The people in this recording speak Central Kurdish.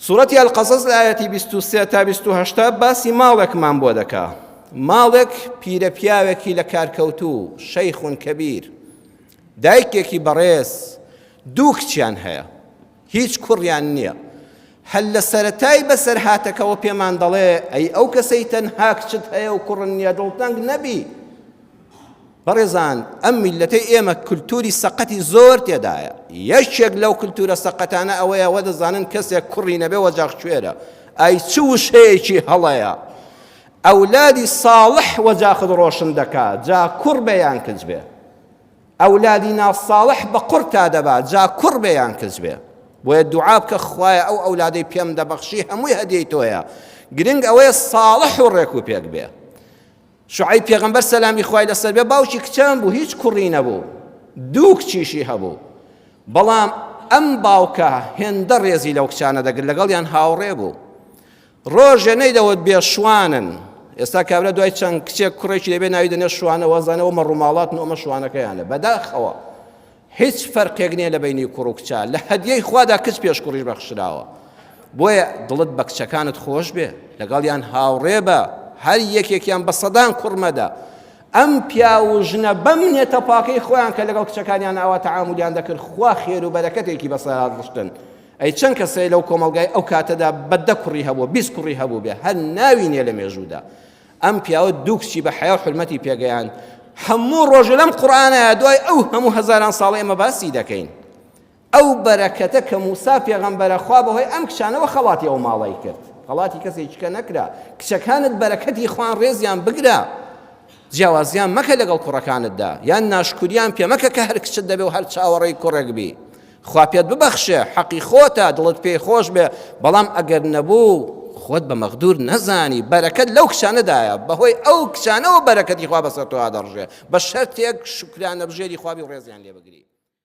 سورەتی القصص لە ئاەتی 23 تا 28 باسی ماڵێکمان بۆ دەکا ماڵێک پیرە پیاوێکی لە کارکەوتو شەیخون کەبیر دایکێکی بەڕێز دوو کچیان هەیە هیچ کوڕیان نییە هەل لە سەتای بەسەر هاتەکەەوە پێمان دەڵێ ئەی ئەو کەسەی تەنها کچت هەیە و کوڕن نیە دڵتەنگ نەبی بەڕێزان ئەم میلەتەی ئێمە کلتوری سەقەتی زۆر تێدایە یەکێک لەو کلتورە سەقەتانە ئەوەیە وە دەزانن کەسێک کوڕی نەبێ وەجاغ کوێرە ئای چ وشەیەکی هەڵەیە ئەولادی ساڵح وەجاخت ڕۆشن دەکا جا کوڕ بێ یان کچ بێ ئەولادی ناساڵح بە قڕ تا دەبا جا کوڕ بێ یان کچ بێ بۆیە دوعا بکە خوایە ئەو ئەولادەی پێم دەبەخشی هەمووی هەدیەی تۆیە گرنگ ئەوەیە ساڵح و ڕێک و پێک بێ شوعەیب پێغەمبەر سەلامی خوای لەسەر بێ باوکی کچان بوو هیچ کوڕی نەبوو دوو کچیشی هەبوو بەڵام ئەم باوکە هێندە ڕێزی لەو کچانە دەگر لەگەڵیان هاوڕێ بوو ڕۆژێ نەیدەوت بێ شوانن ئێستا کابرا دوای چەند کچێک کوڕێکی دەبێ ناوی دەنێ شوانە وەزانەوە مەڕووماڵات نۆمە شوانەکەیانە بەداخەوە هیچ فەرقێک نیە لەبەینی کوڕ و کچە لە هەدیەی خوادا کچ پێش کوڕیش بەخشراوە بۆیە دڵت بە کچەکانت خۆش بێ لەگەڵیان هاوڕێ بە هەر یەکێکیان بە سەدان کوڕمەدە ئەم پیاو و ژنە بەم نێتە پاکەی خۆیان کە لەگەڵ کچەکانیان ئاوا تەعامولیان دەکرد خوا خێر و بەرەکەتێکی بەسەرات ڕشتن ئەی چەند کەسەی لەو کۆمەلگای ئەو کاتەدا بەدە کوڕی هەبوو بیست کوڕی هەبوو بێ هەر ناوی نیە لە مێژوودا ئەم پیاوە دوو کچی بە حەیا و حرمەتی پێگەیاند هەموو ڕۆژە لەم قورآانە دوای ئەو هەموو هەزاران ساڵ ئێمە باسی دەکەین ئەو بەرەکەتە کە موسا پێغەمبەرە خوا بەهۆی ئەم کچانەوە خەڵاتی ئەو ماڵی کرد خەڵاتی کەسێکیکە نەکرا کچەکانت بەرەکەتی خوان ڕێزیان بگرە جیاوازیان مەکە لەگەڵ کوڕەکانتدا یان ناشکوریان پێمەکە کە هەر کچت دەبێ و هەر چاوەڕێی کوڕێک بی خوا پێت ببەخشێ حەقی خۆتە دڵت پێی خۆش بێ بەڵام ئەگەر نەبوو خۆت بە مەغدور نەزانی بەرەکەت لەو کچانەدایە بەهۆی ئەو کچانەوە بەرەکەتی خوا بەسەر تۆ دەڕژێ بە شەرتێک شکرانە بژێری خوابی و ڕێزیان لێ بگری